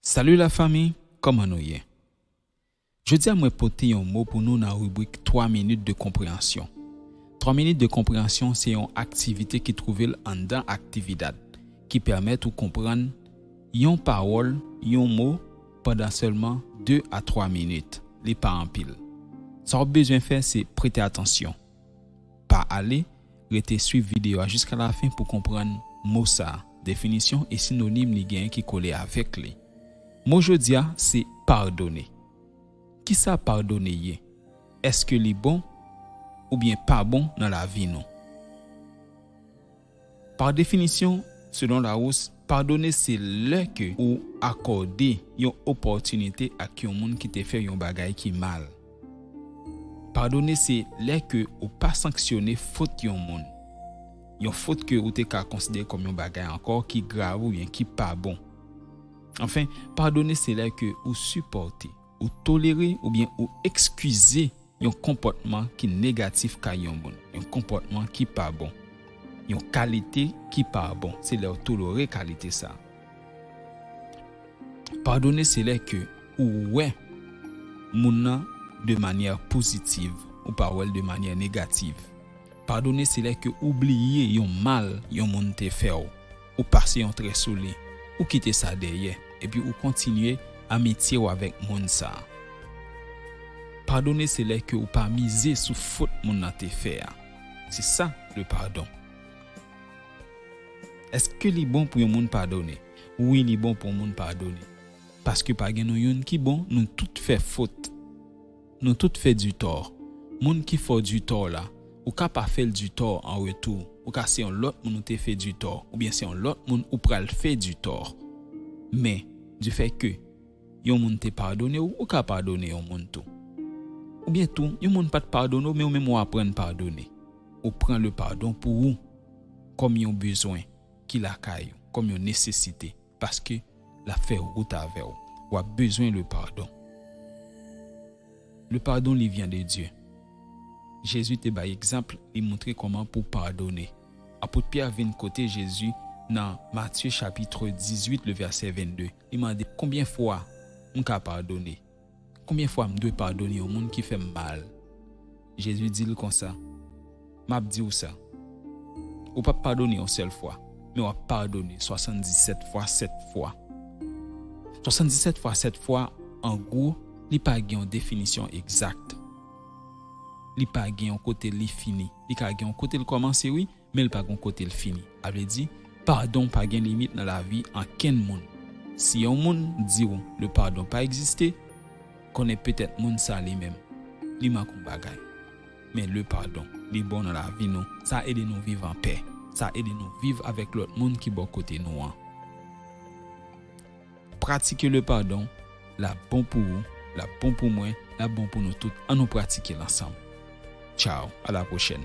Salut la famille kòman nou ye jodia mwen pote yon mo pou nou nan ribrik 3 minit de konpreyansyon 3 minit de konpreyansyon se yon aktivite ki twouvel anndan aktividad ki pèmèt ou konprann yon pawòl yon mo pandan sèlman 2 a 3 minit li pa anpil sa wap bezwen fè se prete atansyon. Pa ale, rete swiv videyo a jiska lafen pou konprann mo sa, definisyon e sinonim li genyen ki kole avèk li. Mo jodi a se padone. Kisa padone ye? Èske li bon oubyen pa bon nan lavi nou? Pa definisyon, selon Larousse, padone se lè ke ou akòde yon opòtinite ak yon moun ki te fè yon bagay ki mal. Padone se lè ke ou pa sanksyone fot yon moun, yon fot ke ou te ka konsidere kòm yon bagay ankò ki grav oubyen ki pa bon. Anfen, padone se lè ke ou sipòte, ou tolere oubyen ou ekskize. Yon konpòtman ki negatif kay yon moun, yon konpòtman ki pa bon, yon kalite ki pa bon, se lè ou tolore kalite sa. Padone se lè ke ou wè moun nan de manyè pozitiv, ou pa wè l de manyè negativ. Padone se lè ke ou bliye yon mal yon moun te fè ou. ou pase yon trè sou li, ou kite sa dèyè, epi ou kontinye amitye w avèk moun sa a. Padone se lè ke ou pa mize sou fot moun nan te fè a. Se sa le pardon. Eske li bon pou yon moun padone? Wi li bon pou yon moun padone. Paske pa gen nou youn ki bon, nou tout fè fot. Nou tout fè du tort. Moun ki fè w du tort la, ou ka pa fè l du tort an retou. Ou ka se yon lòt moun ou te fè du tort, oubyen se yon lòt moun ou pral fè du tort. Men, du fait que yon moun te padone w, ou ka padone yon moun tou. Oubyen tou, yon moun pa t padone w men ou menm ou aprann padone. Ou pran le pardon pou ou, kòm yon bezwen ki lakay ou, kòm yon nesesite. Paske lap fè rout avèw. Wap bezwen le pardon. Le pardon li vient de Dieu. Jezi te bay egzanp li moutre koman pou padone. Apot Pierre vin kote Jezi nan Matthieu chapitre 18 le verset 22 li mande konbyen fwa mka padone. Konbyen fwa m dwe padone yon moun ki fè m mal? Jezi di l konsa, M ap di w sa, Ou pap padone yon sèl fwa, men w ap padone swasanndisèt fwa sèt fwa. Swasanndisèt fwa sèt fwa, an gwo, li pa gen yon definisyon egzak. Li pa gen yon kote li fini. Li ka gen yon kote l kòmanse, wi, men l pa gon kote l fini. A vle di, padon pa gen limit nan lavi ankenn moun. Si yon moun di w le pardon pa egziste, konnen petèt moun sa li menm, li mank yon bagay. Men le pardon, li bon nan lavi nou, sa ede nou viv anpè, sa ede nou viv avèk lòt moun ki bò kote nou an. Pratike le pardon, l ap bon pou ou, l ap bon pou mwen, l ap bon pou nou tout, an nou pratike l ansanm. Tchaw, a la pwochèn.